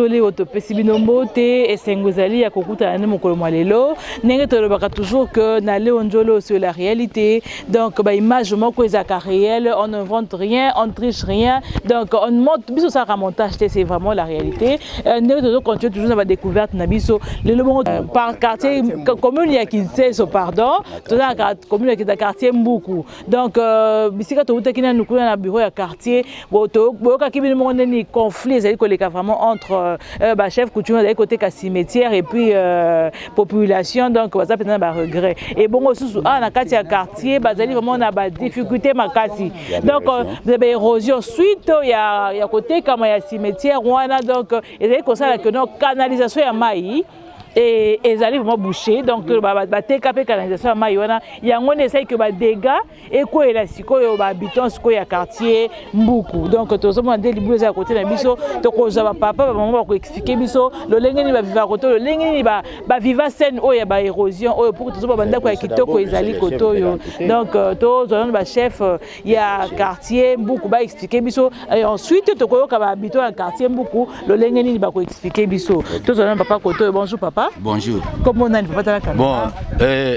toli oyo topesi bino mbote esengo ezali ya kokutana nde mokolo mwa lelo ndenge tolobaka toujours que na leo njolo sur la réalité donc ba image moko ezalaka réel on ne invente rien on ne triche rien donc on monte biso osalaka montage te c'est vraiment la réalité euh, ndenge tozo continue toujours na badécouverte na biso lelo bongo euh, par quartier commune ya kinseso pardon tozalaka commune ya quartier mbuku donc euh, bisika toutaki nanu kuna na bureau ya quartier boyokaki bino moko nde nini conflit ezali koleka vraiment entre euh, euh, bachef coutume bazali koteka cimetière et puis euh, population donc baza mpenza na baregret ebongo susu awa ah, na kati ya quartier bazali vraiment na badifficulté makasi donc baérosion suite ya, ya kotekama ya cimetière wana donc ezali kosala que no canalisation ya mai ezali vraiment bouché donc bateka mpe canalisation ya mai wana yango nde esali que badégats ekweyela sikoyo ba habitants sikoyo ya quartier mbuku donc tozomona nde libulu eza ya kote na biso tokozwa bapapa bamama bakoexplike biso lolenge nini baviva kote oyo lolenge nini baviva scène oyo ya baérosion oyo pour tozomona bandako ya kitoko ezali kote oyo donc euh, tozwa nano bachef euh, ya quartier mbuku baexplike biso et ensuite tokoyoka ba habitants ya quartier mbuku lolenge nini bakoexplike biso tozwa nano papa kote oyo bonjour papa bonjour kombo nani papa tala kamera bon euh,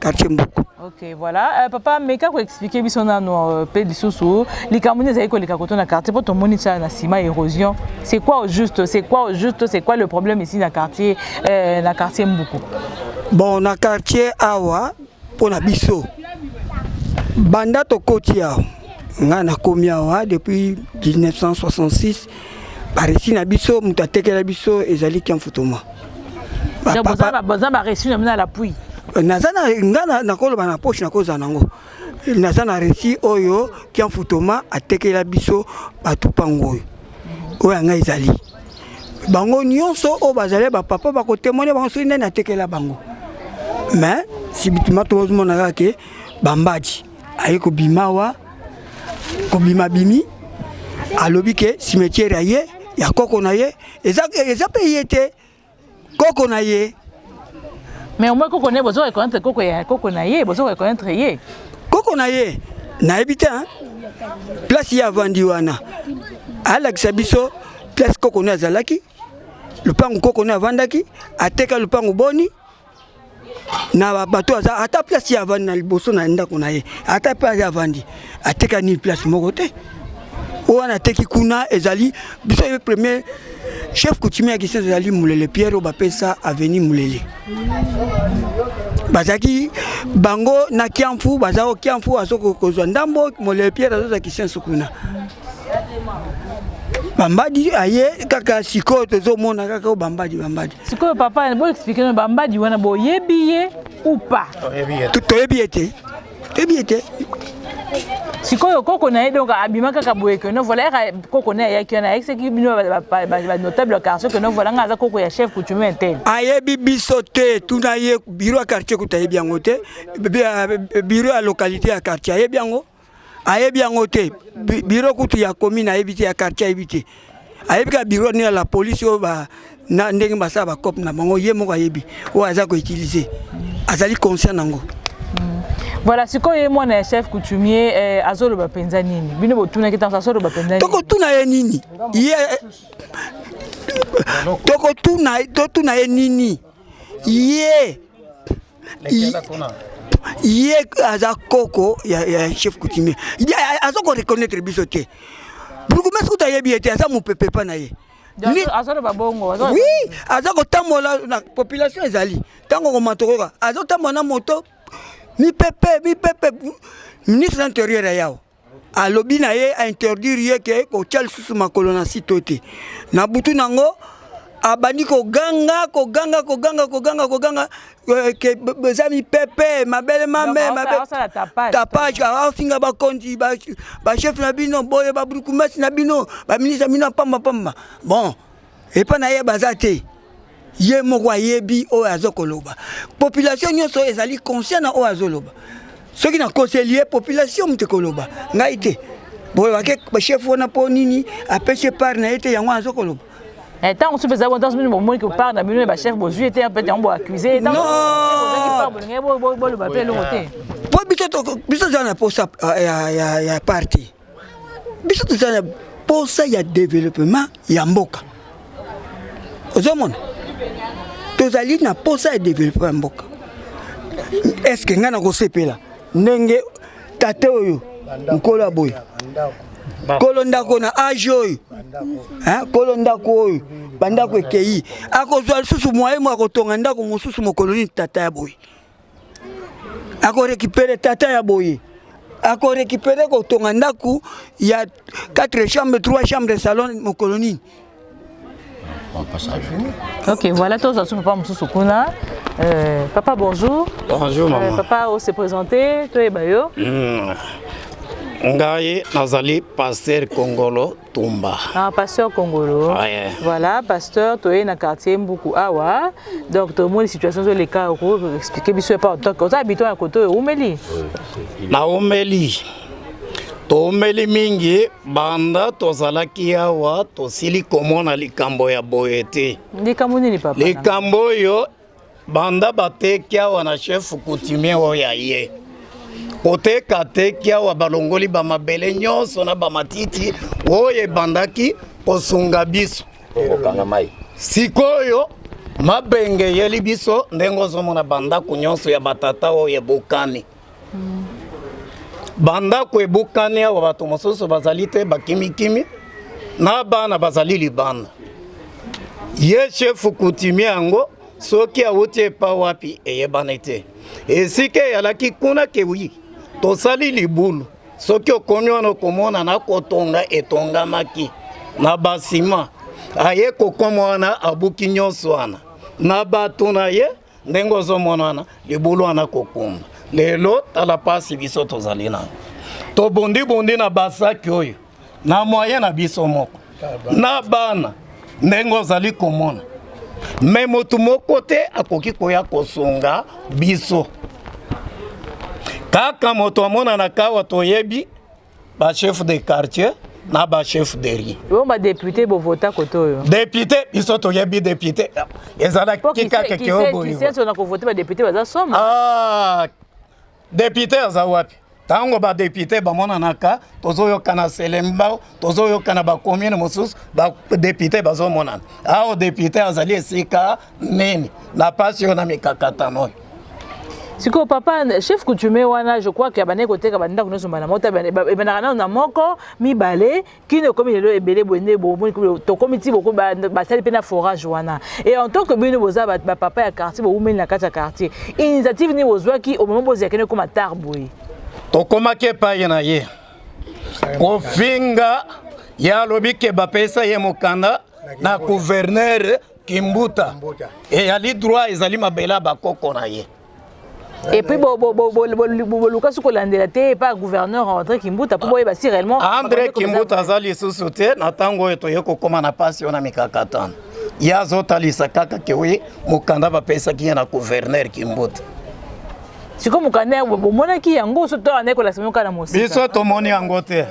quartier mbuku ok voilà euh, papa meka koexplike biso nano euh, mpe lisusu likambo nini ezali koleka koto na quartier mpo tomoni tia na nsima érosion c'est quoi au juste c'est quoi au juste c'est quoi le problème ici na quartier euh, na quartier mbuku bon na quartier awa mpo na biso banda tokoti awa ngai nakomi awa depuis 1966 baresi na biso moto atekela biso ezali kiamfutuma baza baresi na bino ya lapui naza nga nakoloba na poche nakozala nango naza na resi oyo kiamfutoma atekela biso bato mpango oyo oyo yanga ezali bango nyonso oyo bazali bapapa bakotemone bango soki nani atekela bango mais sibitima tozomona kaka ke bambadi aye kobima wa kobima bimi alobi ke cimetière aye ya koko na ye eza eza pe ye te koko na ye mais au moins koko na ye bozo reconnaître koko ya koko na ye bozo reconnaître ye koko na ye nayebi te place ye avandi wana alakisa biso place koko na azalaki lupangu koko na avandaki ateka lupangu boni na babato aza ata place ya avandi na liboso na ndako na ye ata mpe aza avandi ateka nini place moko te oyo wana ateki kuna ezali biso ye premier chef coutumier ya kisese ezali mulele pierre oyo bapesa aveni mulele bazalaki bango na kiamfu baza o kiamfu azokozwa ndambo mulele pierre azozwa kisenso kuna bambadi aye kaka sikoyo tozomona kaka bambadi bambadi sikoyo papa boexplike no bambadi wana boyebi ye ou pas toyebi ye te toyebi ye te sikoyo koko na ye donc abima kaka boye keno voilà yaka koko na ye ayaki wana ayekisaki bino banotable ya quartier keno voilà ngai aza koko ya chef coutumier te ayebi biso te tuna ye biro ya quartier kuta ayebi yango te biro ya localité ya quartier ayebi yango ayebi yango te biro kutu ya commune ayebi te ya quartier ayebi te ayebi kaka biro nini ya la police oyo ba na ndenge basala bacope na bango ye moko ayebi oyo aza koutilize azali conscient nango hmm. voilà sikoyo ye mwana ya chef coutumier eh, azoloba mpenza nini bino botunaki ntango azoloba mpenza tokotuna ye nini ye tokotuna ye nini ye ye aza koko ya, ya chef coutumier aza ko reconnaître biso te bourgmestre kuta ayebi ye te aza mopepe epa na ye oui aza kotambola na population ezali ntango okomatokoka azotambola na moto mipepe mipepe ministre na intérieur ya yawo alobi na ye ainterdire ye ke kotya lisusu makolo na site oyo te na butu na yango abandi koganga koganga koganga koganga koganga euh, ke eza mipepe mabele mame tapage afinga bakonzi bachef na bino boye baburkumesi na bino baministre na bino ya pamba pamba bon epa na ye baza te ye moko ayebi oyo azo koloba population nyonso ezali conscient na oyo azoloba soki nakoseli ye population moto ekoloba ngai te boye bake chef wana mpo nini apesi epart na ye te yango azo koloba eh, ntango mosusu eza ntango soki bomoni kopart na bino ya bachef bozwi ete mpe yango boaccuse ye boloba mpe eloko te mpo biso toza na mposa ya parti biso toza na posa ya developema ya mboka ozomona tozali na posa ya developema ya mboka eske ngai nakosepela ndenge tata oyo nkolo ya boye kolo ndako na age oyo kolo ndako oyo bandako ekei akozwa lisusu mwaye mwa kotonga ndako mosusu mokolo nini tata ya boye ako récupérer tata ya boye ako récupérer kotonga ndako ya 4 chambre 3 chambre salon mokolo nini Ok, voilà, tous à papa Moussou Kuna. Euh, papa, bonjour. Bonjour, euh, maman. Euh, papa, on s'est présenté, toi et Bayo. Mmh. Ngaye, Nazali, pasteur Congolo, tumba ah, pasteur kongolo ah, yeah. voilà pasteur toye na quartier mbuku awa donc tomoni situation ezoleka okoexplike biso epa otoke oza habitant ya koto oyo oumeli naumeli toumeli mingi banda tozalaki awa tosili komona likambo ya boye te likambo nini papa likambo oyo Banda bateki awa na chef coutumier oyo ya ye koteka teki awa balongoli bamabele nyonso na bamatiti oyo ebandaki kosunga biso okanga mai sikoyo mabenge eyeli biso ndenge ozomona bandako nyonso ya batata oyo ebukani bandako ebukani awa bato mosusu bazali te bakimikimi na bana bazali libanda ye shefu kutimi yango soki awuti epa wapi eyebani te esika eyalaki kuna kewi tosali libulu soki okomi wana okomona na kotonga etongamaki na basima aye kokoma wana abuki nyonso wana na bato na ye ndenge ozomona wana libulu wana kokumba lelo tala mpasi biso tozali nango tobondibondi na basaki oyo na moyen na biso moko na bana ndenge ozali komona me motu moko te akoki koya kosunga biso kaka moto amonanaka awa toyebi ba chef de quartier na ba chef de riz yo ba député bo vota koto yo député biso to yebi député ezala kika ke ke obo yo kisenso na ko voter ba député baza somo ah député aza wapi ntango badepute bamonanaka tozoyokana selembao tozoyokana bakomine mosusu badepute bazomonana awa depute azali esika nini na pasi oyo na mikakatano oyo sikoyo papa chef coutumier wana je crois ke abandaki koteka bandako nyonso mbala moko ebandaka nano na moko mibale kino ekomi lelo ebele boye nde bomoni tokomi ti basali mpe na forage wana e en tant que bino boza bapapa ya quartier bowumeli na kati ya quartier initiative nini bozwaki omoma bozela kende ekoma tar boye tokomaki epai na ye kofinga ye alobi ke bapesa ye mokanda na gouverneur kimbuta eyali droit ezali mabele ya bakoko na ye et puis boluka soki kolandela te epa gouverneur andré kimbuta mpo boyeba si réellement andré kimbuta aza lisusu te na ntango oyo toye kokóma na mpasi oyo na mikakatano ye azotalisa kaka ke wi mokanda bapesaki ye na gouverneur kimbuta sikoyo mokanda yango bomonaki yango so to andaki kolakisa bino kaka na mosika biso tomoni yango te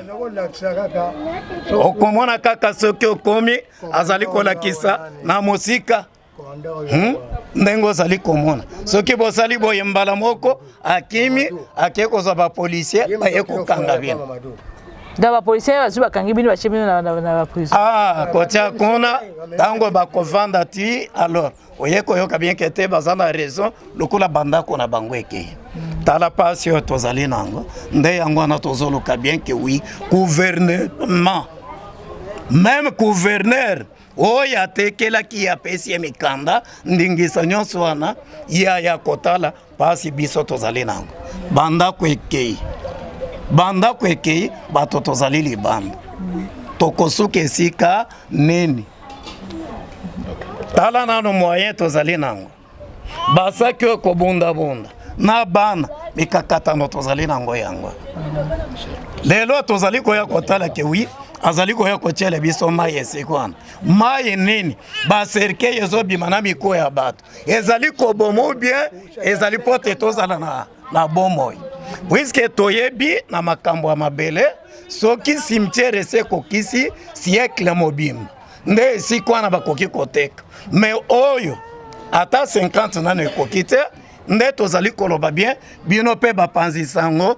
okomona kaka soki okomi azali kolakisa na mosika hmm? ndenge ozali komona soki bosali boye mbala moko akimi ake kozwa bapolisier baye kokanga bino na bapolisier bazwi bakangi bino batie bino na baprison ah, kotia kuna ntango bakovanda ti alors oye koyoka bien ke te baza na raison lokola bandako na bango ekei tala mpasi oyo tozali na yango nde yango wana tozoluka bien ke wi gouvernement meme gouverneur oyo atekelaki ye apesi ye mikanda ndingisa nyonso wana ye aya kotala Pasi biso tozali nango bandako ekei bandako ekei bato tozali libanda tokosuka esika nini tala nano moyen tozali nango basaki oyo kobundabunda na bana mikakatano tozali nango yango lelo tozali koya kotala ke wi azali koya kotyela biso mai esika wana mai nini baserkei ezobima na mikuwa ya bato ezali koboma ou bien ezali mpo te tozala na, na bomoi puiske toyebi na makambo ya mabele soki cimetiere esi ekokisi siekle mobimba nde esika wana bakoki koteka me oyo ata 50 nano ekoki te nde tozali koloba bien bino mpe bapanzi sango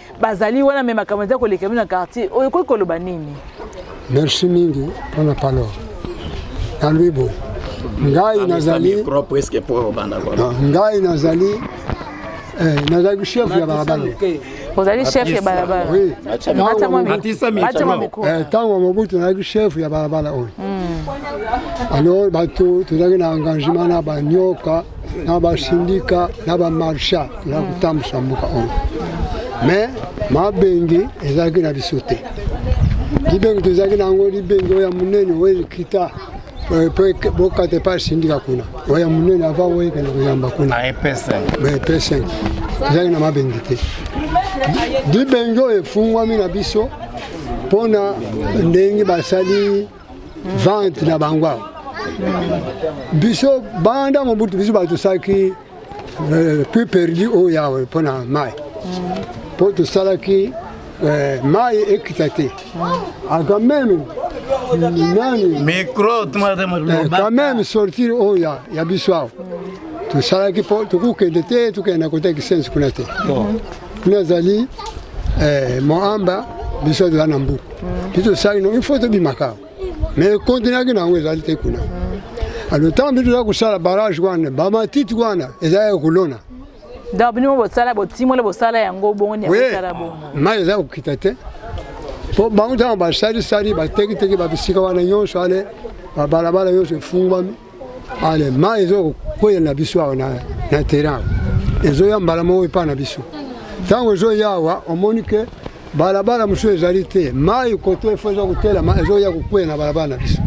bazali wana me makambo eza koleka bino na quartier oyo ekoki koloba nini merci mingi mpona palo nalobi boye ngai nazali ah, ngai nazali eh, nazali chef ya balabala ozali chef ya balabala ntango mobutu nazalaki chef ya balabala oyo alors bato tozalaki na engagement na banyoka na basindika na bamarsha na hmm. kotambwisa mboka oyo me mabengi ezalaki na biso te libengi tozalaki na yango libengi oyo ya monene oyo ekita eh, po bokata epai asindika kuna oyo ya monene ava oyo ekende koyamba kuna ah, epeseng tozalaki na mabengi te libengi oyo efungwami na biso mpo na ndenge basali vente na bango awa biso banda mobutu biso batosaki euh, puis perdu oyo yawe mpo na mai mpo tosalaki euh, mai ekita te aka meme nani micro euh, quand même sortir oyo ya, ya biso awa tosalaki mpo tokokende te tokende na kota kisensi kuna te nazali eh, moamba biso azala na mbu biso tosali no ifo tobimaka me kontinaki na yango ezali te kuna alo ntango biso toza kosala barage wana bamatiti wana eza ya kolona donc bino bosala botimoli bosala yango bongo niakosala bongo mai eza kokita te mpo bango ntango basalisali batekiteki babisika wana nyonso ale babalabala nyonso efungwami ale mai ezokwela na biso awa na terrain awa ezoya mbala moko epai na biso ntango ezoya awa omoni ke balabala mosusu ezali te mai koto efo eza kotelama ezoya kokwela na balabala na biso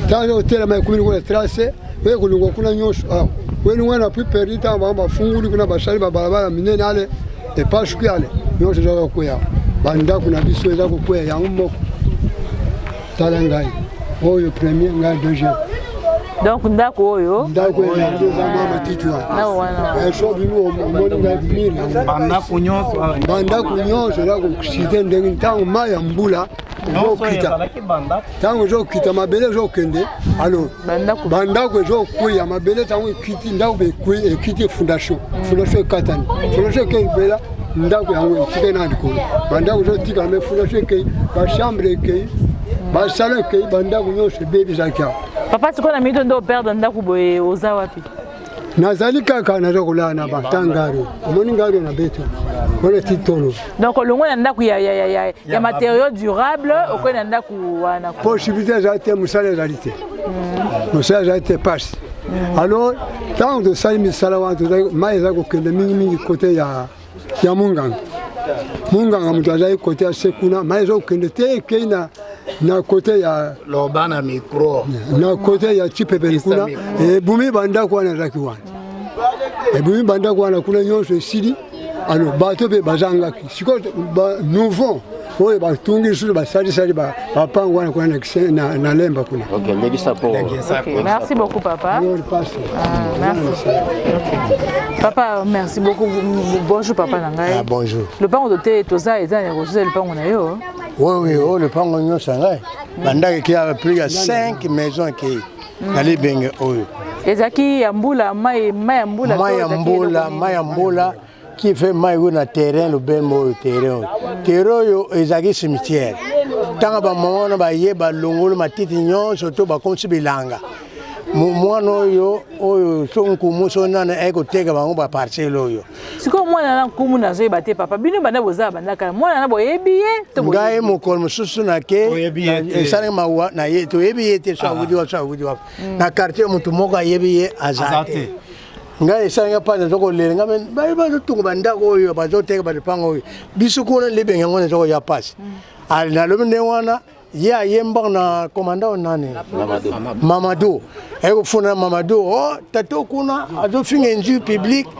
ntango eza kotelama ekomi lokola trace oye kolongwa kuna nyonso awa welingwa na puis perdi ntango bango bafunguli kuna basali babalabala minene ale epasuki ale nyonso eza kokwea bandako na biso eza kokwea yango moko tala ngai oyo premier ngai deuxième donc ndako oyo ndako elandi eza mwa matiti wanaso bino omoni ngai mire bandako nyonso bandako nyonso eza kosite ndenge ntango mai ya mbula ezokita ntango ezokita mabele ezokende alors ba ndako ezo kweya mabele ntango ekiti ndako bekwe ekiti fondation fondation ekatani fondation ekei mpela ndako yango etikali na likolo bandako ezotikala me fondation ekei bachambre ekei basala ekei bandako nyonso ebebi ezalaki awa papa sikoyo na minito nde operdre ndako boye oza wapi nazali kaka naza kolala na bata ngari omoni ngari na beto wana titolo donc olongwe na ndako ya, ya, ya, ya, ya matériau durable okoki na ndako wana possibilité ezali te mosala ezali te mm. mosala ezali te pasi mm. alors ntango tosali misala wana mai ezali kokende mingimingi kote ya ya munganga munganga moto azali kote ya se kuna mai ezokende te ekei na na kote ya loba na micro na kote ya cipepeli kuna ebumi bandako wana ezalaki wana ebumi bandako wana kuna nyonso esili alors bato mpe bazangaki sikoyo nouveau oyo batungi lisusu basalisali bapango wana kuna na lemba kuna merci beaucoup papa ah, papa merci beaucoup bonjour papa na ngai ah, bonjour lopango tote toza eza ya kozuza lopango na yo oui oyo oh, lopango nyonso ya ngai bandaki kia plus ya 5 maison ekei mm. na libenge oyo ezalaki ya mbula mai ya mbula mai ya mbula mai ya mbula qui fait mai oyo na terrain lobembo oyo terrain oyo terrain oyo ezalaki cimetière ntango bamama wana baye balongoli matiti nyonso to bakomisi bilanga mwana oyo oyo so nkumu so nani aye koteka bango baparcele oyo sikoyo mwana na nkumu nazoyeba te papa bino banda boza banda kala mwana na boyebi ye ngai mokolo mosusu nake esalaki mawa na ye toyebi ye te so awudi wapi so awudi wapi na quartier motu moko ayebi ye aza te ngai esali nga mpasi naza kolela nga baye bazotonga bandako oyo bazoteka balipanga oyo biso kuna libenge yango naza koya mpasi mm. nalobi ndenge wana ye ayembaka na komanda oyo nani mamado aye kofunda mamado o oh, tata kuna azofinga injure publique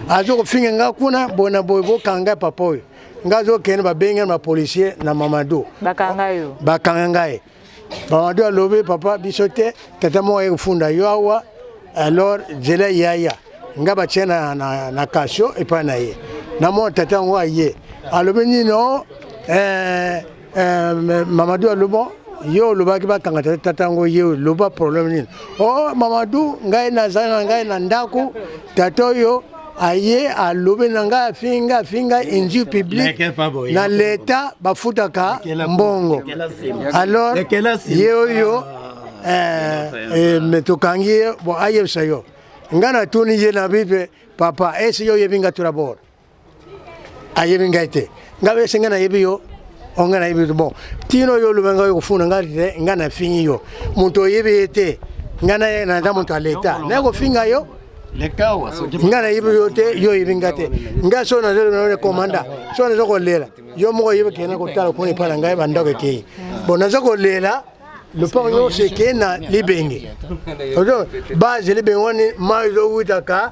azokofinga nga kuna boye na boye bokanga papa oyo nga azokende babenge na bapolicier na mamado bakanga ngai Mamadu alobi papa biso te tata moko aye kofunda yo awa alors zela yaya nga batie na, na, na kasho epai na ye namona tata yango aye alobi nino eh, eh, mamadu alobi yo olobaki bakanga tata tata yango ye loba problème nini o oh, mamadu ngai nazali na ngai na ndako Tata oyo aye alobi na ngai afingi ngai afingi ngai injure publique na leta bafutaka mbongo alors ye oyo ah. eh, eh, me tokangi ye bon ayebisa yo ngai natuni ye na bipe papa esi yo oyebi ngai trabord ayebi ngai te ngai bese ngai nayebi yo o ngai nayebi te bon tino yo oloba ngai okofuna ngai te ngai nafingi yo moto oyebi ye te ngai naye naza moto ya leta naye kofinga yo ngai nayebi yo te yo oyebi ngai te ngai so nazolobana komanda so naza kolela yo moko oyebi kende kotala kuna epai na ngai bandako ekei bon naza kolela lopango nyonso ekei na libenge base libenge wani mai ezowutaka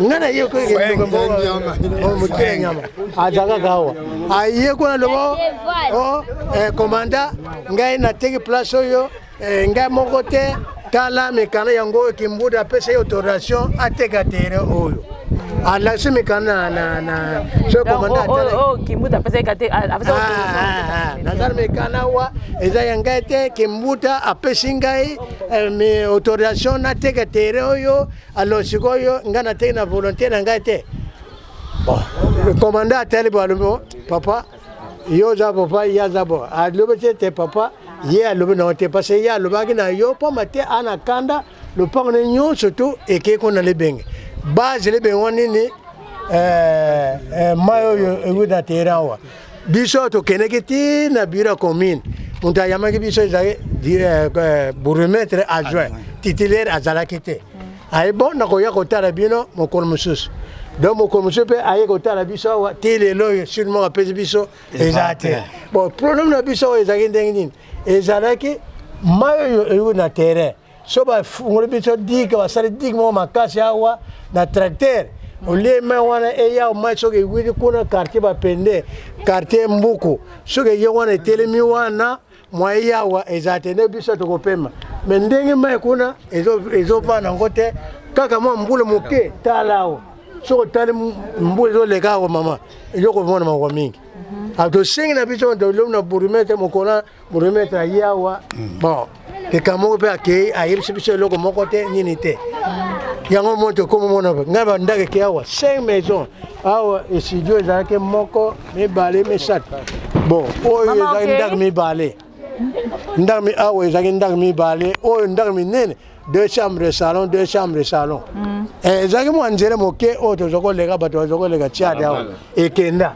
nga na ye mokele nyama azalaka kawa aye kuna lobo komanda oh, eh, ngai nateki place oyo eh, ngai moko te tala mikanda yango oyo kimbuda apesa ye autorisation ateka tere oyo alakisi mikanda so komanda nazali mikanda wa eza ya ngai te kimbuta apesi ngai eh, autorisation nateka tere oyo Alors sikoyo nga na teki na volonté na ngai te. Bon, le commandant atali bo alobi oh, papa yo oza papa ye aza bo alobi te te papa ye alobi na yo te parce que ye alobaki na yo mpamba te ana kanda lopango ne nyonso tu ekei kuna libenge base libenge wa nini eh, eh, mai oyo euti na teran awa biso tokendeki ti na biro ya commune moto ayamaki biso ezali eh, eh, bourgmestre adjoint titulaire azalaki te mm. aye bon nakoya kotala bino mokolo mosusu donc mokolo mosusu mpe aye kotala biso awa ti lelo oyo surement apesi biso eza te bon problème na biso oyo ezalaki ndenge nini ezalaki mai oyo eyoki na terrain so bafungoli biso dike basali dike moko makasi awa na tracteur olie mai wana eya mai soki ewiti kuna quartier bapende quartier mbuku soki eye wana etelemi wana mwa eyawa eza te nde biso tokopema me ndenge mai kuna ezovanda yango te kaka mwa mbula moke tala awa soki otali mbula ezoleka awa mama ezokomona mawa mingi mhm. ah, tosengi na biso tolobi na bourgmestre mokona Moremetre aye awa bon likambo moko mpe akei ayebisi biso eloko moko te nini te yango moni tokomi mona ngai bandako eke awa cinq maison awa estudio ezalaki moko mibale misato bon oyo ezalaki ndako mibale ndako awa ezalaki ndako mibale oyo ndako minene deux chambres salon deux chambres salon mm. eh, ezalaki mwa nzele moke oyo toza koleka bato baza koleka tiade awa ekenda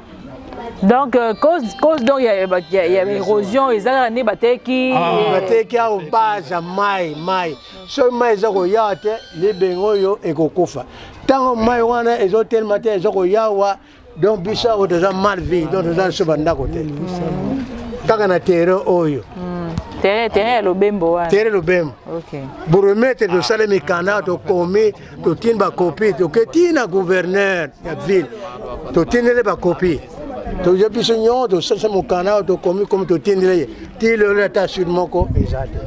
donc euh, cause cause donc ya ya érosion eza kaka nde bateki ah, euh, bateki awa baza mai mai soki mai eza koyawa te libenge oyo ekokufa ntango mai wana ezotelema te eza koyawa donc biso awa toza mal vie donc toza biso bandako te kaka na terrain oyo terrain ya lobembo wana terrain lobembo bourgmestre tosali mikanda tokomi totindi bakopi toke ti na gouverneur ya ville totindele bakopi toza biso nyonso tosalisa mokanda oyo tokomi komi totindele ye ti lelo ata sud moko eza te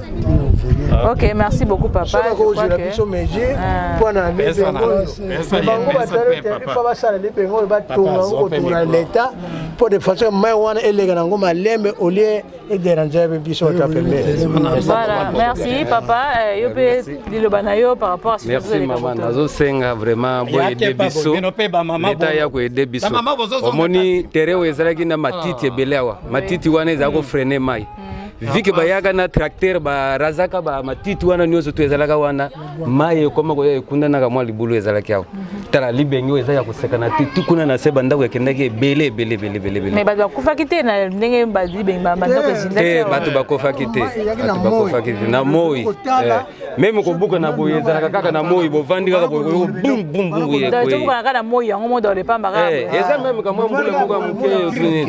ok merci beaucoup papa soki akozwela biso mesure ah. mpo na bango batali te ifa basala libenge oyo batonga yango kotongola leta mpo de façon mai wana eleka na yango malembe olie ederange yabe biso ata pembeni voilà merci papa eh, yo mpe liloba na yo par rapport à merci mama nazosenga vraiment boyede biso leta ya koyede biso omoni tere oyo ezalaki na matiti ah. ebele awa matiti wana ezala ko freine mai vike bayaka na tracteur barazaka ba matiti wana nyonso to ezalaka wana mai ekoma koya ekundanaka mwa libulu ezalaki awa tala libenge oyo eza ya kosekana te ti kuna na se bandako ekendaki ebele ebele ebele ebele ebele mais bato bakufaki te na ndenge ba- libenge ba- bandako ezindaki te awa. bato bakofaki te bato bakofaki te na moi Kotala, meme kobuka na boye ezalaka kaka na moi bovandi kaka boye boye bum bum bum boye tobukana kaka na moi yango moto olepamba kaka eh, eza meme kamwa mbula moko ya moke osuni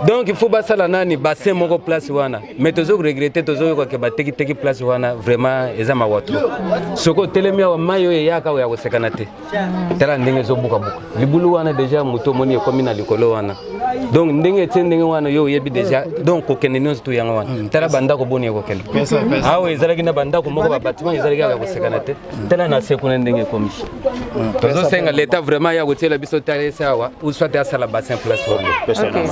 donc il faut basala nani bassin moko place wana mais tozo regrette tozoyoka ke batekiteki place wana vraiment eza mawa trop soki otelemi awa mai oyo eyaka oyo ya kosekana te tala ndenge ezobukabuka libulu wana deja moto omoni ekomi na likolo wana donc ndenge etie ndenge wana yo oyebi deja donc kokende nyonso tu yango wana mm. tala bandako boni ekokende awa ezalaki na bandako moko babatima ezalaki kaka kosekana te mm. tala na se kuna ndenge ekomi mm. tozosenga leta vraiment ya kotiela biso talese awa uswa te asala bassin place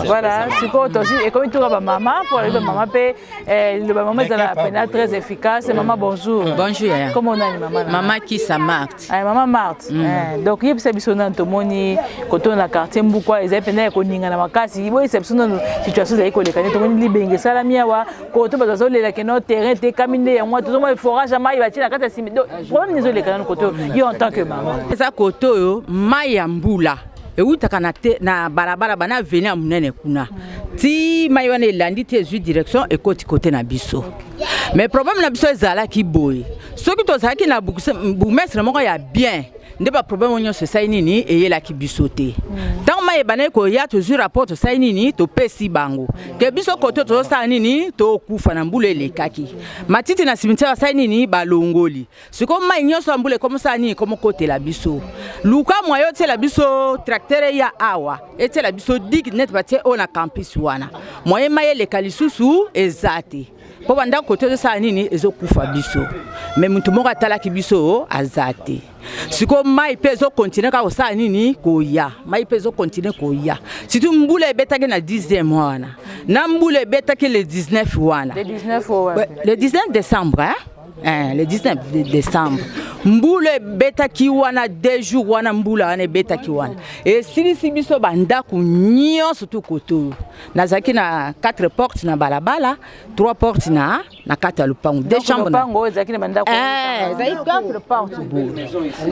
voilà sikoyo tosi ekomi tuka bamama mpo alobi bamama mpe eh, liloba mama ezala pena très efficace mama bonjour bonjour comment on a mama mama kisa mart Ay, mama Marthe mm. eh, donc yebisa biso nanu tomoni koto na quartier mbukwa ezali mpenza ya koningana makasi boyebisa biso nanu situation ezali koleka nde tomoni libenge esalami awa koto bato bazolela keno terrain tekami nde yango wana tozomona forage ya mai batie na kati ya simi problème ezoleka nanu koto yo en tant que mama eza koto oyo mai ya mbula ewutaka na, te, na balabala bana aveni ya monene kuna ti mai wana elandi te ezwi direction ekoti kote na biso okay. mais problème na biso ezalaki boye soki tozalaki na bourgmestre moko ya bien nde baproblème oyo nyonso esali nini eyelaki biso te ntango mai ebandaki koya tozwi rapport tosali nini topesi bango ke biso kote tozosala nini tokufa na mbula elekaki matiti na cimetière basali nini balongoli sikoyo mai nyonso ya mbula ekomosala nini ekomokotela biso luka mwa yo otyela biso tractere ya awa etyela biso dig nete batie oyo na campus wana moye mai eleka lisusu eza te mpo bandako tozosala nini ezokufa biso me moto moko atalaki biso aza te sikoyo mai mpe ezokontinue kaka kosala nini koya mai mpe ezokontinue koya surtout mbula ebetaki na 10 mois wana na mbula ebetaki le 19 wana le 19 décembre hein? Eh, le 19 décembre mbula ebetaki wana deux jours wana mbula wana ebetaki wana esilisi biso bandako nyonso tu koto nazalaki na quatre porte na balabala trois porte na na kati ya lopango de chambrezalaki quatre porte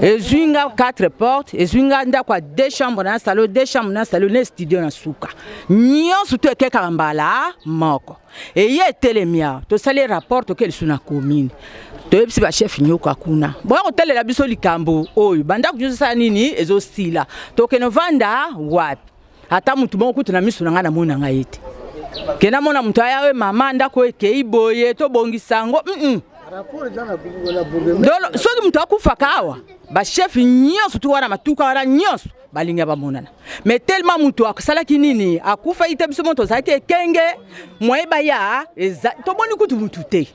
ezwi nga quatre porte ezwi nga ndako ya de chambre na salo de chambre na salo na studio na suka nyonso to ekekaka mbala moko eye etelemi awa tosali rapport toke lisusu na commune toyebisi bachef nyoka kuna boya kotalela biso likambo oyo bandako nyonso esala nini ezosila tokende vanda wapi ata mutu moko kutu na misu na ngai namoni na ngai ye te ke namona moto aya oyo mama ndako ekei boye tobongisa yango mm -mm. dolo soki moto akufaka awa bachef nyonso tu wana matuka wana nyonso balinga bamonana me telema moto asalaki nini akufaki te biso mo tozalaki ekenge moye baya tomoni kutu motu te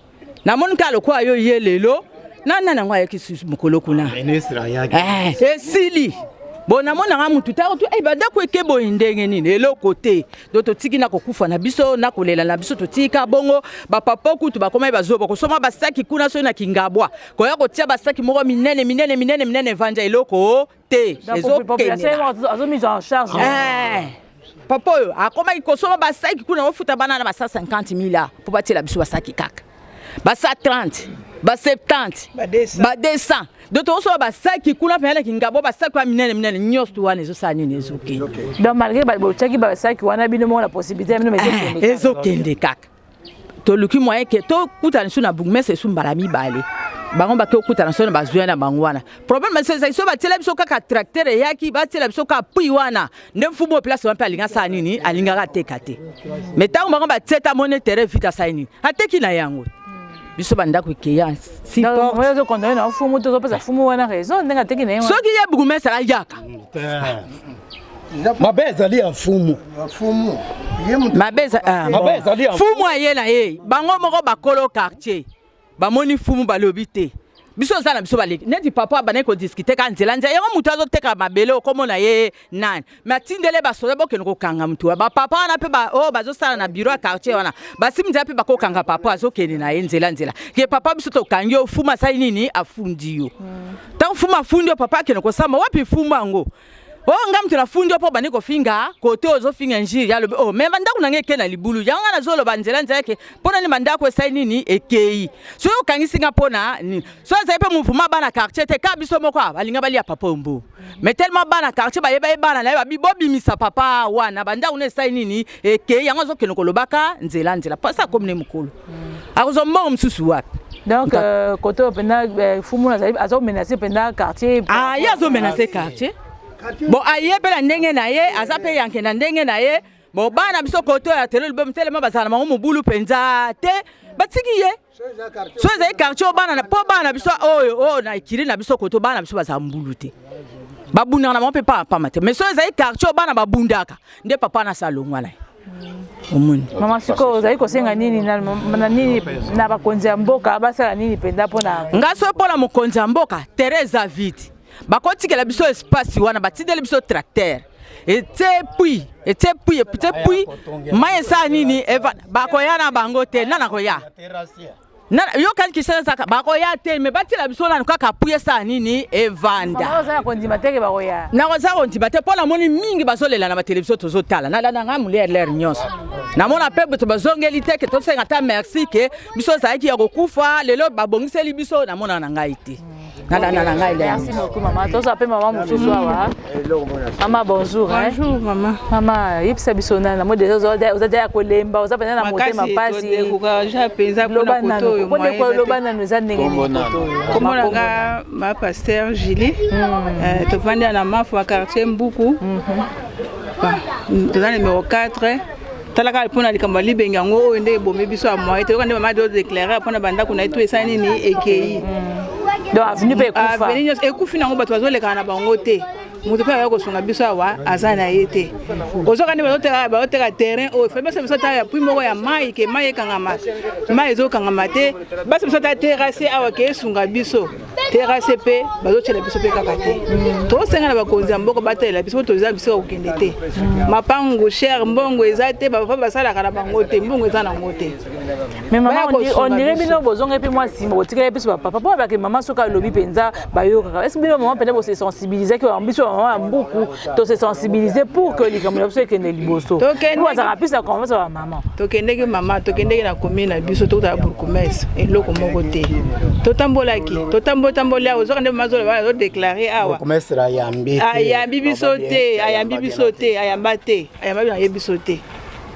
namoni kaka lokola yo ye lelo na nani yango ayaki susu mokolo kuna eh, esili bo namonaka motu takutu eh, badako eke boye ndenge nini eloko te do totiki na kokufa na biso na kolela na biso totika bongo bapapa kutu bakomai bazoba bakosoma basaki kuna soki na kingabwa koya kotia basaki moko minene minene minene minene evanja eloko te papa oyo akomaki kosomba basaki kuna ofuta bana na basa 50 mila mpo batiela biso basaki kaka basa 30 ba 70 ba 200 donc tokosoba basaki kuna mpenza na kingabo basaki wana minene minene nyonso wana ezosala nini ezokende donc malgré botyaki basaki wana bino moko na possibilité ya bino ezokende kaka toluki moyen ke tokutana lisusu na bourgmestre esu mbala mibale bango bake kokutana so na bazwi na bango wana problème biso ezali so batiela biso kaka tracteur eyaki batiela biso kaka pui wana nde mfumu oyo place wana mpe alinga asala nini alingaka ateka te me ntango bango batieta mone terrain vite asali nini ateki na yango biso bandako ekeya siportsoki ye bourgmestre ayaka mabe ezali ya mfumu mabe ezali ya mfumu aye na ye bango moko bakolo quartier bamoni mfumu balobi te biso oza na biso baleki neti papa abandaki kodiskute kaka nzela nzela yango moto azoteka mabele okomona ye nani me atindele basoda bokende kokanga motu bapapa wana mpe oyo oh, bazosala na biro ya quartier wana basimi nzela mpe bakokanga papa azokende na ye nzela nzela ke papa biso tokangi yo fuma asali nini afundi yo ntango fuma afundi yo papa akende kosamba wapi fuma yango Oh, nga mutu na fundi po bande kofinga kote ozo finga injiri ya lobi oh mais bandako na ngai eke na libulu yango nga nazo loba nzela nzela ke pona ni bandako esai nini ekei so yo kangisi nga pona ni so ezali pe mouvement bana quartier te ka biso moko balinga bali ya papa ombo mais tellement bana quartier baye baye bana na ye babi bobimisa papa wana bandako na esai nini eke yango azokende kolobaka nzela nzela mpasi akomi ne mokolo hmm. akozwa mbongo mosusu wapi donc euh, kote oyo mpenza euh, fumu azali azomenase mpenza quartier ah, ye azomenase quartier bon aye mpe na ndenge na ye aza mpe yanke na ndenge na ye bon bana biso kote oyo ya telo libomi telema bazala na bango mobulu mpenza te batiki ye so ezali quartier bana na po bana biso oyo oyo na ekiri na biso koto bana biso bazala mbulu te babundaka na bango mpe paa pama te mais so ezali quartier bana babundaka nde papa na salongwa na ye omoni mama sikoyo ozali kosenga nini na nini na bakonzi ya mboka basala nini mpenza mpo na nga so mpo na mokonzi ya mboka tere eza vide bakotikela biso espace wana batindeli biso tracteur ete pui ete pui ete pui mai esala nini bakoya na bango te nana koya yokani kisana ezaka bakoya te me batila biso nanu kaka pui esala nini evanda nakoza kondima te mpo namoni mingi bazolela na batelevizio tozotala nalanda ngai molia lere nyonso namona mpe bato bazongeli te ke tosenga ata merci ke biso ezalaki ya kokufa lelo babongiseli biso namona na ngai te na na na ngai leo. Merci beaucoup mama. Toza pe mama mususu awa. Mama bonjour. Bonjour mama. Mama yebisa biso na na mode oza oza ya kolemba oza pena na motema pasi. Makasi ko ja penza ko na koto yo. Ko de ko loba na nous ande ngi koto. Komo na nga ma pasteur Julie. Euh to vandi na mafu quartier Mbuku. Toza numéro 4. tala kaka mpo na likambo ya libenge yango oyo nde ebomi biso ya moye toyoka nde mama de déclare mpo na bandako na ye to esali nini ekei donc avenue mpe ekufa avenue nyonso ekufi nango bato bazolekana na bango te moto mpe akoki kosunga biso awa aza na ye te ozoka nde bazoteka terrain oyo fai basi biso tala pui moko ya mai ke mai ekangama mai ezokangama te basi biso tala terase awa ke esunga biso terase mpe bazotyela biso mpe kaka te tosenga na bakonzi ya mboka batalela biso toza bisika kokende te mapangu cher mbongo eza te bapapa basalaka na bango te mbongo eza nango te ondire bino bozongai mpe mwa nsima botikali biso bapapa mpo babaki mama soki alobi mpenza bayokaka esi bino mama mpenza bosesensibilisaki biso bamama ya mbuku to se sensibiliser pour que likambo na biso ekende liboso bazala plus na confiance ya bamama tokendeki mama tokendeki na commune na biso tokutala bourgmestre eloko moko te totambolaki totambotamboli awa ozoka nde mama azoloba wana azodeklare awa ayambi biso te ayambi biso te ayamba te ayamba biso ayebi biso te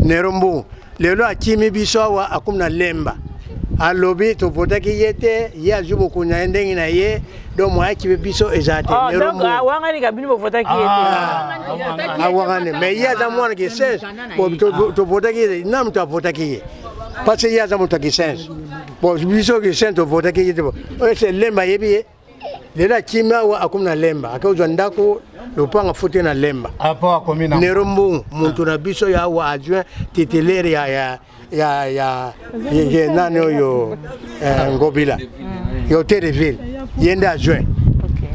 Nero Mbu lelo akimi biso awa akomi na lemba alobi tovotaki ye te ye azwi bokonzi na ye ndenge na ye donc moya kibe biso eza te ah, awangani ah, ah, mais ye aza mwana kisense tovotaki ye na moto avotaki ye parce que ye aza moto ya kisense bon biso kisense tovotaki ye te ese lemba ayebi ye lelo akimi awa akomi na lemba ake ozwa ndako lopanga fute na lemba apo ah, akomi na nero mbongo muntu na biso ya awa adjoint titulaire ya ya ya ya ye nani oyo eh, ngobila mm. yo te de ville ye nde adjoint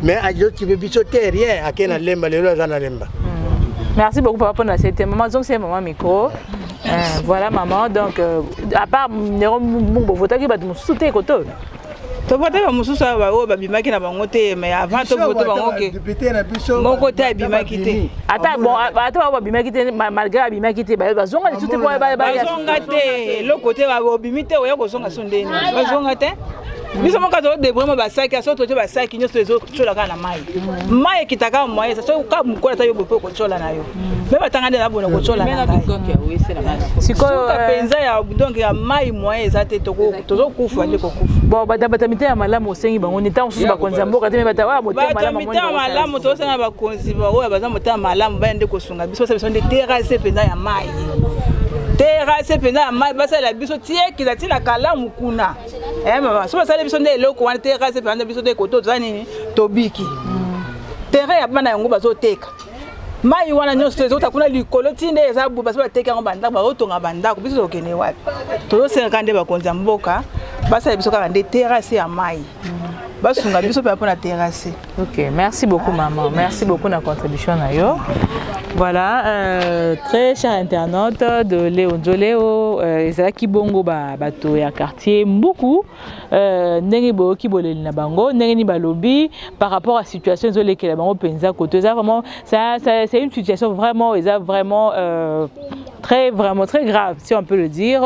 mais azokipe biso te rien ake na lemba lelo aza na lemba mm. merci beaucoup papa mpona sete mama zongisa ye mama micro eh, voilà maman donc euh, à part nero mbongo bovotaki bato mosusu te koto To vote ba mususu awa ba oyo ba bimaki na bango te mais avant to vote bango ke Depute na biso. moko te abimaki te. ata bon ata ba ba bimaki te ma- malgré abimaki te ba- bazonga lisusu te po ba- ba- ba- bazonga te eloko te ba- obimi te oya kozonga so ndeni bazonga te biso moko tozodebre mo basaki aso totie basaki nyonso ezo- tyola kaka na mai mai ekita kaka moye eza soki kaka mokola ata yo bope okotyola na yo me batanga nde nabona kotyola na ngai sikoyo mpenza eh, ya donc ya mai moye eza te tozokufa nde kokufa bon batabata mitema malamu osengi bango ni ntango mosusu bakonzi ya mboka te me bata oyo motema malamu tosenga bakonzi baoyo baza motema malamu baya nde kosunga biso basa biso nde terase mpenza ya mai terase mpenza ya mai basalela biso tiekila ntina kalamu kuna eh mama so basali biso nde eloko wana te kasi mpe anda biso nde koto toza nini tobiki mm. terrain ya bana yango bazoteka mai wana nyonso ezota kuna likolo ti nde eza bo basi bateki yango bandako bazotonga bandako biso tokende wapi tozosengaka nde bakonzi ya mboka basala biso kaka nde terrasse ya mai mm. basunga biso mpe mpona terrasse Ok, merci beaucoup maman. Merci beaucoup na contribution na yo. Voilà, euh, très cher internaute de Léo Nzoleo, euh, ezalaki bongo ba bato ya quartier Mbuku euh, ndenge boyoki boleli na bango, ndenge ni balobi par rapport à situation ezolekela bango mpenza koto eza vraiment ça, ça, c'est une situation vraiment eza vraiment euh, très vraiment très grave si on peut le dire.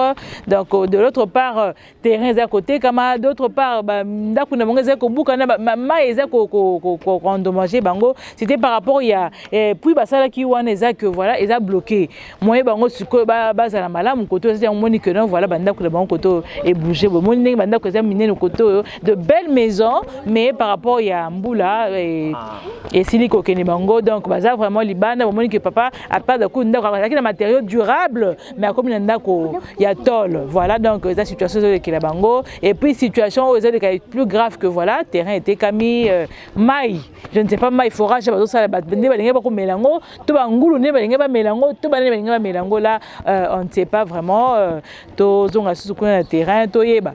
Donc de l'autre part terrain ezali kotekama d'autre part ndako na bango ezali kobukana mai eza koendommage bango c'était par rapport ya eh, puis basalaki wana eza que voilà eza bloqué moye bango sikoyo bazala malamu koto eza yango moni que non voilà bandako na bango koto ebouge boye moni ndenge bandako eza minene koto oyo de belle maison mais par rapport ya mbula eh, ah. esili kokende bango donc baza vraiment libanda bomoni que papa apart daku ndako azalaki na matériaux durable mais akomi na ndako ya tol voilà donc eza situation ezolekela bango et puis situation oyo ezoleka plus grave que voilà terrain etekami euh, mai je ne sais pas mai forage bazosala nde balingi bakomela yango to bangulu nde balingi bamela yango to banani balingi bamela yango la euh, on ne sait pas vraiment euh, tozonga susu kuna na terrain toyeba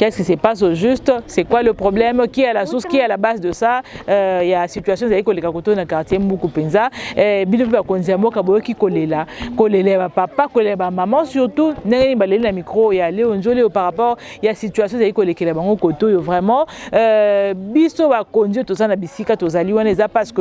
Qu'est-ce qui se passe au juste C'est quoi le problème Qui est à la source Qui est à la base de ça euh, Il y a situation ezali koleka koto na quartier Mbuku penza. Eh, bino mpe bakonzi ya mboka boyoki kolela kolela ya bapapa kolela ya bamama surtout ndenge nini baleli na micro ya leo nzoli oyo par rapport ya situation ezali kolekela bango koto oyo vraiment euh, biso bakonzi oyo toza na bisika tozali wana eza parce que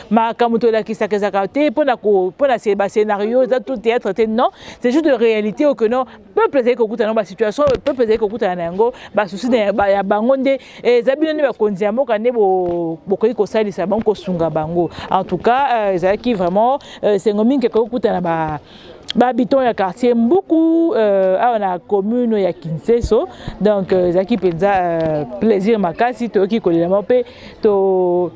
makambo tolakisaka ezalaka te mpona mpona se bascenario eza tout théâtre te non c'est juste de réalité oyo que non peuple ezali kokutana yango basituation oyo peuple ezali kokutana na yango basusi ya bango nde eh, eza bino nde bakonzi ya mboka nde bokoki kosalisa bango kosunga bango en tout cas euh, ezalaki vraiment euh, sengo mingi ekoki kokutana ba bahabitant ya quartier mbuku euh, awa na commune ya kinseso donc ezalaki mpenza plaisir makasi toyoki kolela moko mpe to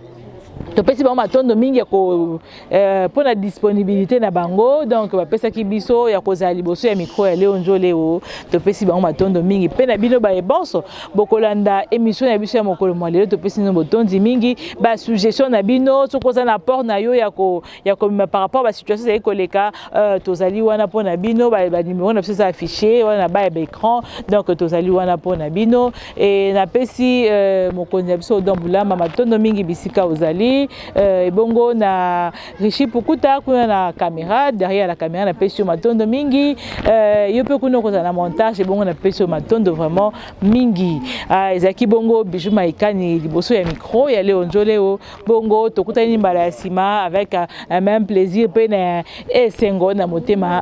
topesi bango matondo mingi ko euh, pona disponibilité na bango donc bapesaki biso ya kozala liboso ya micro ya Leo Njole o topesi bango matondo mingi pe na bino baye bonso bokolanda émission na biso ya mokolo mwa lelo topesi bino botondi mingi ba suggestion na bino soki oza na port na yo ya ko ya kobima par rapport ba situation ezali koleka euh, tozali wana mpo na bino banimero na biso eza affiche wana na baya baécran donc tozali wana mpo na bino e napesi euh, mokonzi ya biso odon bulama matondo mingi bisika ozali euh, ebongo na richi pukuta kuna na caméra derrière la caméra napesi yo matondo mingi yo mpe kuna okozala na montage ebongo napesi yo matondo vraiment mingi ah, ezalaki bongo bijou maikani liboso ya micro ya leo njoleo bongo tokutani mbala ya nsima avec un même plaisir mpe na esengo na motema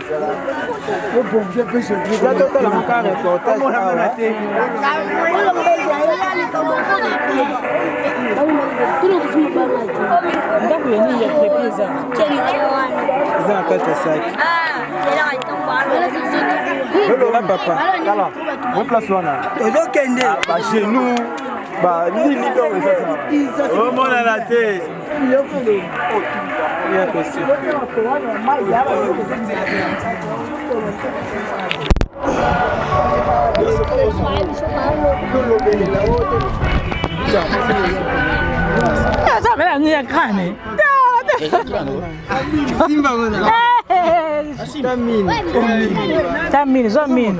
eza na kati ya saki lolola papa tala o place wana ozokende bagenou banini omonana te Simba, mano. Tá mini. Tá mini, só mini.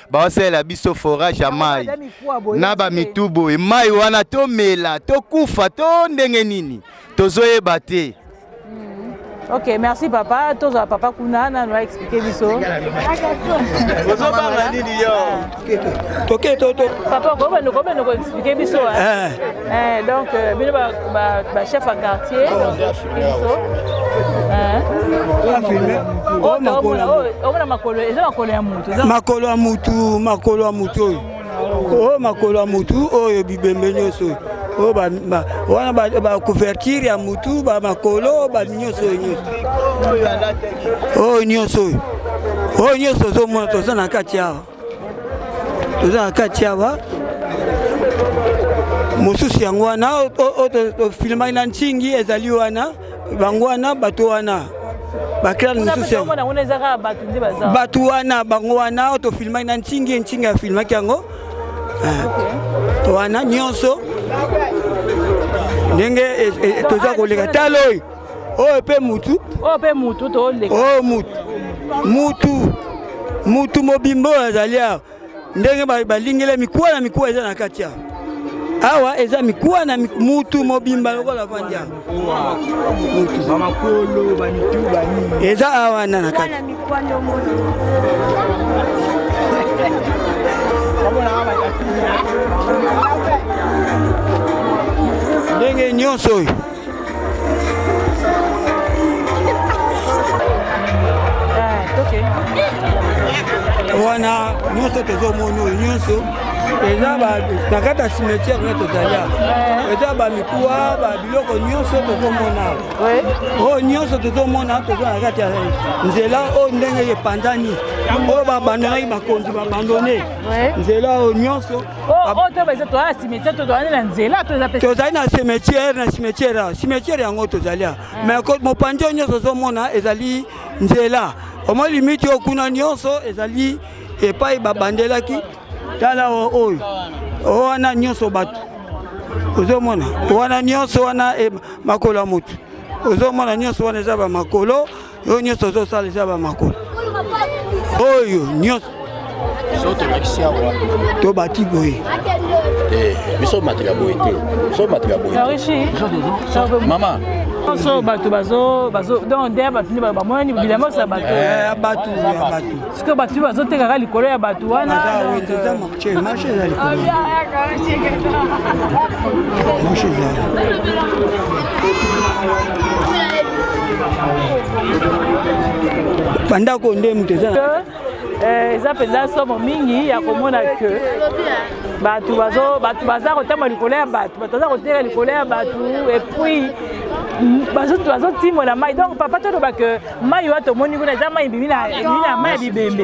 baosalela biso forage ya mai na bamitu boye mai wana tomela tokufa to ndenge nini tozoyeba te Ok, merci papa. Tous à papa Kuna, nous a expliqué biso. Ok, toto. Papa, comment nous comment nous expliquer biso hein? Eh. eh donc, euh, bino ba ba chef à quartier. makolo ya mutu makolo ya mutu oyo oyo makolo ya mutu oyo bibembe nyonso oyo Oh, ba, ba, wana ba, ba couverture ya mutu ba makolo ba nyonso oyo nyonso oyo oh, nyonso oyo oyo oh, nyonso ozomona toza na kati awa toza na kati awa mosusu yango wana tofilmaki na ntingi ezali wana bango wana bato wana bakelani mosusu bato wana bango wana oyo tofilmaki na ntingi ntingi afilmaki yango eh, wana nyonso ndenge eh, eh, toza koleka talo oyo oyo mpe mutu oyo mpe mutu toleka oyo oh, mutu mutu mutu mobimba oyo azali awa ndenge balingela mikuwa na mikuwa eza na kati awa awa eza mikuwa na mutu mobimba lokola vandi awa eza awa wana na kati ndenge nyonso oyo wana nyonso tozomona oyo nyonso eza na kati ya cimetière na tozali eh. eza bamikuwa babiloko nyonso tozomona oyo nyonso tozomona toza na kati ya nzela oyo ndenge epanzani oyo babandonaki bakonzi babandone nzela oyo nyonso tozali na cimetière na cimetière a cimetière yango tozali a mais mopanzi oyo nyonso ozomona ezali nzela omoi limite oyo kuna nyonso ezali epai babandelaki tala oyo wana nyonso bato ozomona wana nyonso wana eh, makolo ya motu ozomona nyonso wana eza bamakolo oyo nyonso ozosala eza bamakolo oyo nyonso tobati boye eh, biso matela boye te biso matela boye mama nyonso bato donc der bato nde bamonani bilamba osa bato eh, ya bato sikoyo bato nde bazotekaka likolo ya bato wana Marche ezali marche ezali bandako nde moto eza eh, eza mpenza somo mingi ya komona ke bato bato baza kotamba likolo ya bato bato baza koteka likolo ya bato epuis bazotimwa na mai donc papa toloba ke mai oyo tomoni kuna eza mai ebimi na mai ya bibembe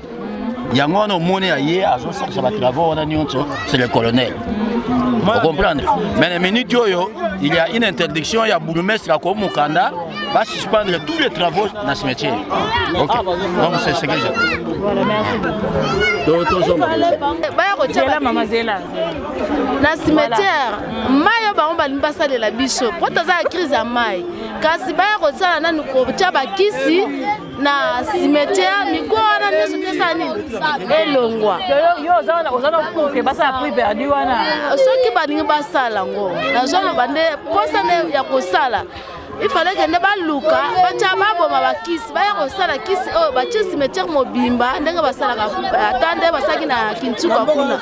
yango wana omoni ya ye azosalisa batravau wana nyonso c'est le colonel ocomprendre mais na minute oyo il y a une interdiction ya bourgmestre ako mokanda basuspendre tous les travaux na cimetière ok donc c'est ce que je baya kotyela mama zela na cimetière mai oyo bango balingi basalela biso mpo toza ya crise ya mai kasi baya kosala nanu kotya bakisi na cimetière mikuwa wana nyonso tesa nini elongwa soki balingi basala yango nazoloba nde mposa nde ya kosala ifale kende baluka batya baboma bakisi baya kosala kisi oyo batye cimetière mobimba ndenge basalaka ata nde basalaki na kintuka kuna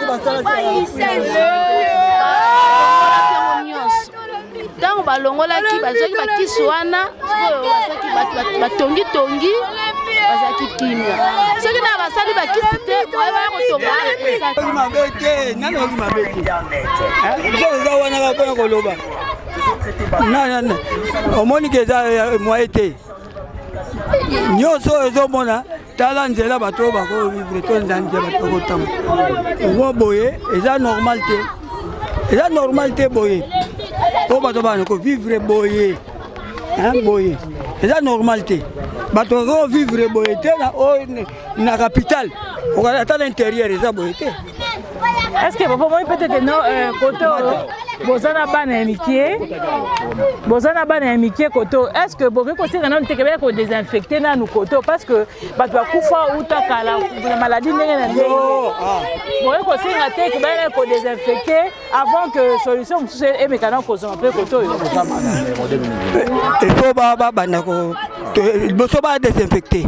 ntango balongolaki bazwaki bakisi wana oyo basaki batongitongi bazalaki kimia soki na basali bakisi te bayebaya kotonga mabe te nani oki mabe te eza wana kaka mpona koloba nanana omoni ke eza eh, moye te nyonso oyo ezomona tala nzela bato oyo bakovivre to nza nzela bato bakotama ngo boye eza normal te eza normal te boye po bato bana kovivre boye boye eza normal te bato bakovivre boye te na capitale ata na interieur eza boye te Est-ce que papa moi peut-être non euh, côté boza na bana ya mikie boza na bana ya mikie koto est ce que bokoki kosenga nanu tekebele kodesinfecte nanu koto parce que bato bakufa uta kala na maladie ndenge na ndenge ah. bokoki kosenga te kebele kodesinfecte avant que solution mosusu emeka na kozonga mpe koto oyo ekoba babanda liboso badesinfecte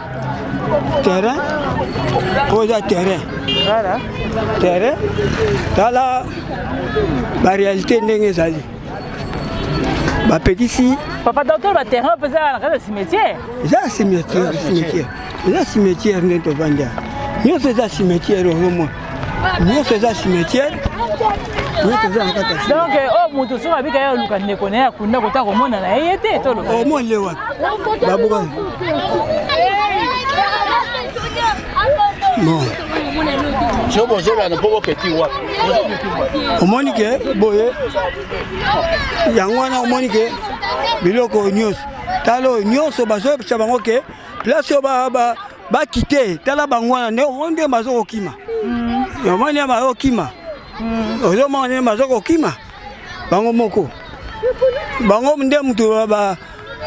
terrain oyo eza terrain terrain tala barealité ndenge ezali bapekisi papa docteur baterrain mpe ezala na kati ya cimetière eza ya cimetière cimetière eza cimetière nde tovandi nyonso eza cimetière oyo mona nyonso eza cimetière donc oyo oh, moto soki abika ya oluka ndeko na ye akunda kota komona na ye ye te toloba omoni ye wapi babuka bon soki bozolana mpo boketi wapi omoni ke boye yango wana omoni ke biloko nyonso talo nyonso bazopesa bango ke place ba ba ba kite tala bango wana nde omoni nde bazo kokima mm. omoni nde bazo kokima mm. ozomona nde bazo kokima bango moko bango nde moto ba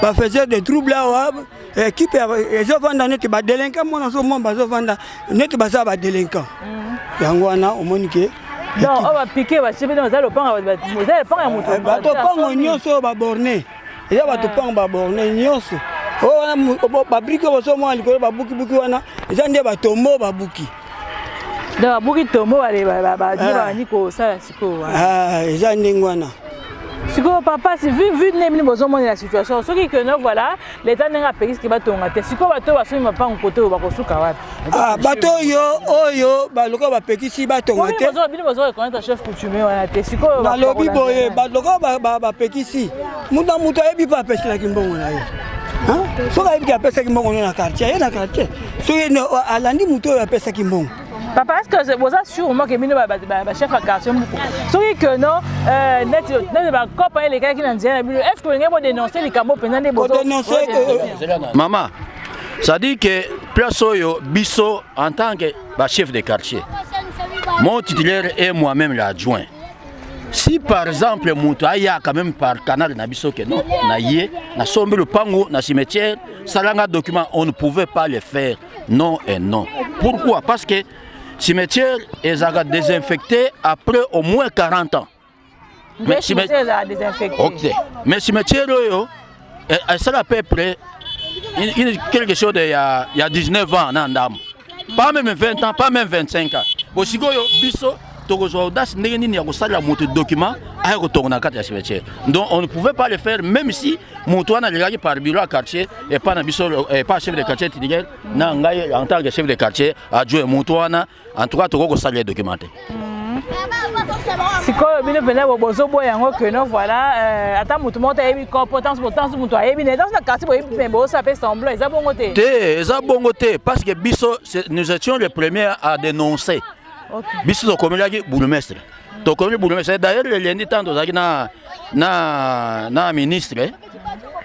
ba faisait des troubles awa ekipe ezovanda neti badelinka mwana azomona bazovanda neti baza badelinka mm. yango wana omoni ke donc oyo bapike basibi baza lopanga eza lopanga ya moto eh, bato mpango nyonso oyo baborne eza bato mpango baborne nyonso oyo wana babrike bozomona likolo babukibuki wana eza nde batombo babuki donc babuki tombo babandi ah. kosala sikoyo wana ah, eza ndenge wana sikoyo papa vu ndenge bino bozomonela situation soki keno voilà leta ndenge apekisi ke batonga te sikoyo bato basomi mapango kote oyo bakosuka wapi Ah, bato oyo oyo balokola bapekisi batonga te balobi boye balokola bapekisi moto na moto ayebi mpe apeselaki mbongo na ye soki ayebi te apesaki mbongo no na quartier aye na quartier soki alandi moto oyo apesaki mbongo papa est ce que boza sûrement ke bino bachef ya quartier moko soki ke no euh, neti bacopa elekaki na nzela na bino est ce que olingai bodénonce likambo mpenza nde bodénonce mama C'est-à-dire que place oyo biso en tant que ba chef de quartier, mon titulaire et moi-même l'adjoint. Si par exemple moto aya quand même par canal na biso que non na ye na sombi lupango na cimetière salanga document on ne pouvait pas le faire non et non. Pourquoi Parce que cimetière ezaka désinfecté après au moins 40 ans. Okay. Mais cimetière oyo esala à peu près quelque chose de ya, ya 19 ans na ndambo pas même 20 ans pas même 25 ans bosikoyo biso tokozwa audace ndenge nini ya kosalela moto document aya kotonga na kati ya cimetière donc on ne pouvait pas le faire même si moto wana alekaki par bureau ya quartier epa na biso epa chef de quartier tidigel na ngai en tant que chef de quartier adjoint moto wana en tout cas tokoki kosalela document te mhm. sikoyo bino mpenza bozoboya yango keno voilà euh, ata motu moko te ayebi kopo tanso botanso motu ayebi na tanso na quartier boyebi mpe boosa mpe semblant eza bongo te te eza bongo te parce que biso nous étions les premiers à dénoncer biso tokomelaki bourgmestre tokomeli bourgmestre d'ailleurs lelendi ntango tozalaki na na na ministre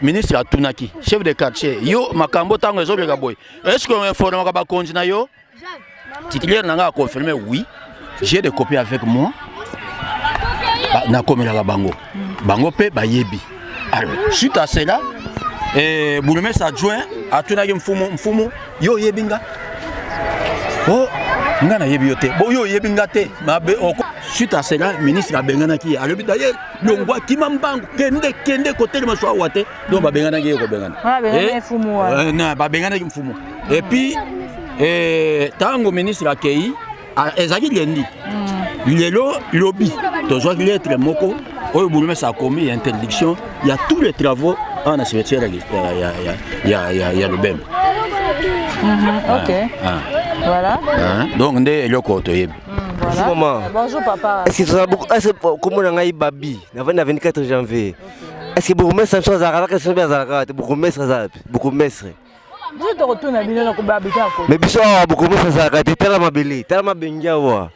ministre atunaki chef de quartier yo makambo ntango ezoleka boye eske oinformaka bakonzi na yo titulaire na ngai aconfirme oui j'ai des copies avec moi nakomelaka bango bango mpe bayebi alors suite à cela eh, bourgmestre adjoint atunaki mfumu mfumu yo oyebi nga o oh, nga nayebi yo te bo yo oyebi nga te mabe oko suite à cela ministre abenganaki ye alobi daye longwa kima mbangu kende kende kotelema so awa te donc babenganaki ye kobengana babenganaki mfumu epuis ntango ministre akei ezalaki lendi hmm. lelo lobi tozwaki lettre moko oyo bourgmestre akomi ya interdiction ya tous les travaux awa na cimetière ya lobembe donc nde eloko toyebi Bonjour maman. Bonjour papa. Est-ce que tu as beaucoup Est-ce que comment on a eu Babi Avant le 24 janvier. Est-ce que bourgmestre biso azalaka na kasi mpe azalaka kaka te bourgmestre aza wapi bourgmestre biso tokotuna bino na kobabika ko mais biso awa bourgmestre azalaka te tala mabele tala mabengi awa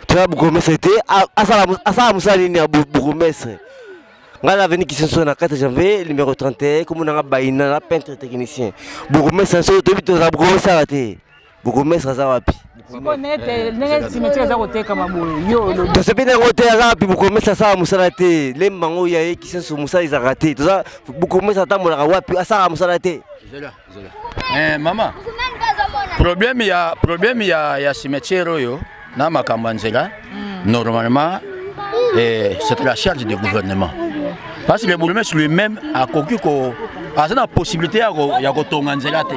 tala bourgmestre te a- asala mos- asala mosala nini ya bou- bourgmestre ngai na aveni kisenso na 4 janvier numéro 31 komonanga baina na peintre technicien bourgmestre na biso toyebi tozala bourgmestre awa te bourgmestre aza wapi tosepeli yango te aza wapi bourgmestre asala mosala te lemba yango ya ye kisenso mosala ezalaka te toza bourgmestre atambolaka wapi asalaka mosala te eh, mama problème ya problème ya ya cimetière oyo na makambo ya nzela normalement eh, c'est la charge du gouvernement parce que le bourgmestre lui-même akoki ko aza na possibilité ya kotonga nzela te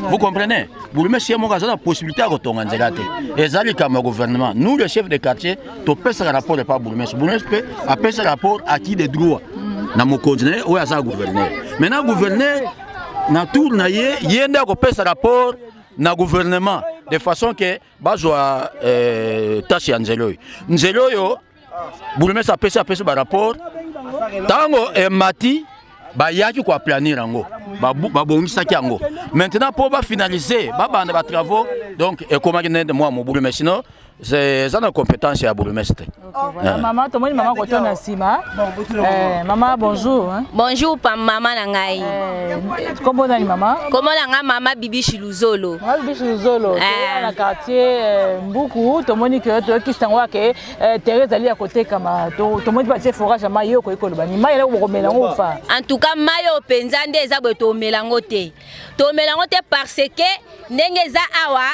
vous comprenez bourgmestre ye moko aza na possibilité ya kotonga nzela te eza likambo ya gouvernement nous le chef de quartier topesaka rapport epa bourgmestre bourgmestre mpe apesa rapport à qui de droit na mokonzi na ye oyo aza gouverneur maintenant gouverneur na tour na ye ye nde akopesa rapport na gouvernement de façon que bazwa eh, tâche ya nzela oyo nzela oyo bourgmestre apesi apesi barapport ntango emati eh, bayaki koaplanir yango babongisaki yango maintenant mpo bafinalize babanda batravaux donc ekomaki nde mwa mobulu mais sinon eza na compétence ya bourgmestre te Oh, ah. Maman, tomoni maman koto na sima. Eh, maman bonjour. Hein. Bonjour pa maman na ngai. Eh, kombo nani maman? Kombo na ngai maman Bibi Shiluzolo. Maman Bibi Shiluzolo. Eh. Na quartier eh, Mbuku, tomoni que to ki sango ke eh, Thérèse ali ya koteka ma to tomoni ba forage ya mayo ko ikoloba ni mayo ko komela ngo fa. En tout cas mayo penza nde eza bo to melango te. To melango te parce que ndenge eza awa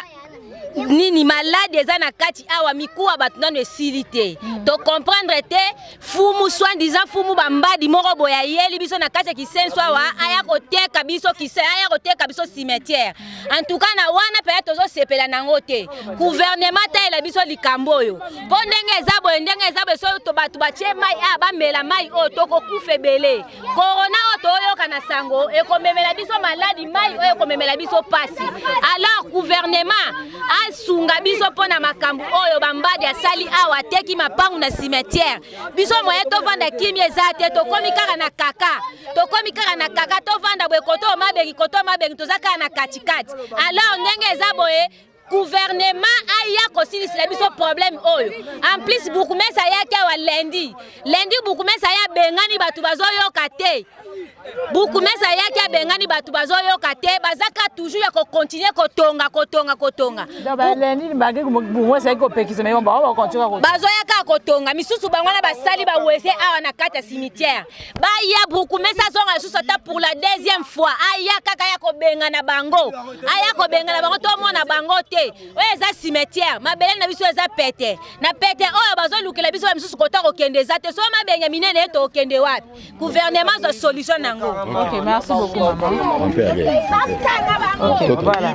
nini malade eza na kati awa mikuwa bato nano esili te mm. to comprendre te fumu swandiza fumu bambadi moko boye ayeli biso na kati ya kisenso awa aya koteka biso kise aya koteka biso cimetière en tout cas na wana mpenza tozosepela nango te guvernema talela biso likambo oyo mpo ndenge eza boye ndenge eza boye so bato batye mai a ah, bamela mai oyo tokokufa ebele korona oyo toyoka na sango ekomemela biso maladi mai oyo ekomemela biso mpasi alors guvernema asunga biso mpo na makambo oyo bambadi asali awa ateki mapangu na cimetière biso moye tovanda kimi eza te tokomi kaka na kaka tokomi kaka na kaka tovanda boye koto mabengi koto mabengi toza kaka na katikati alors ndenge eza boye gouvernement aya kosilisela biso problème oyo en plus bourgmestre ayaki awa lundi lundi bourgmestre aya abengani bato bazoyoka te bourgmestre ayaki abengani bato bazoyoka te bazaka toujours ya kokontinue kotonga kotonga kotonga bazoyaka kotonga misusu bango wana basali bawese awa na kati ya cimetière baya brukumesi azonga lisusu ata pour la deuxième fois aya kaka ya kobengana bango aya kobengana bango tomona bango te oyo eza cimetière mabele na biso eza pete na pete oyo bazolukela biso ya misusu kota kokende eza te so mabenge minene ye tokende wapi gouvernement zwa solution na yango okay, merci beaucoup, maman. Okay, voilà.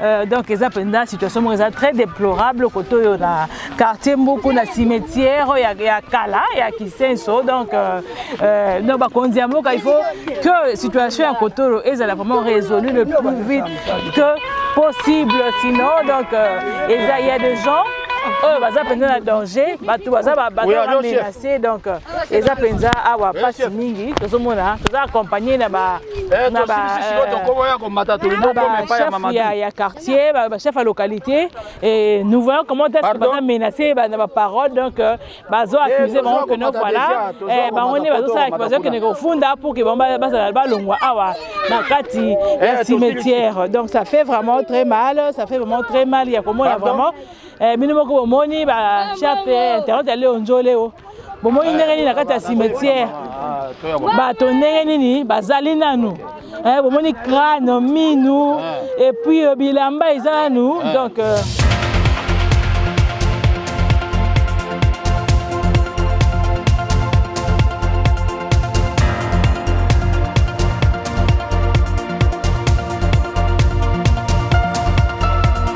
Euh, donc eza mpenza situation moko eza très déplorable kote oyo na quartier mbuku na cimetière ya, ya kala ya kisenso donc euh, euh, donc bakonzi ya mboka il faut que situation ya kote oyo ezala vraiment résolu le plus vite que possible sinon donc euh, eza il y a des gens oyo baza mpenza na danger bato baza bamenace donc eza mpenza awa mpasi mingi tozomona toza accompagne na ba Eh, na bachef euh, ya, ya quartier bachef ya localité et nous voyons comment est-ce que baza menacé na baparole donc euh, bazo eh, accuse bango que no voilà eh, bango nde bazosalaki bazokende kofunda pour que bango bazala balongwa awa na kati ya cimetière donc ça fait vraiment très mal ça fait vraiment très mal ya komona vraiment bino moko bomoni bachef internet ya leo njoleo bomoni ndenge nini na kati ya cimetière bato ndenge nini bazali nanu eh, bomoni crane minu eh. et puis euh, bilamba eza nanu eh. donc euh,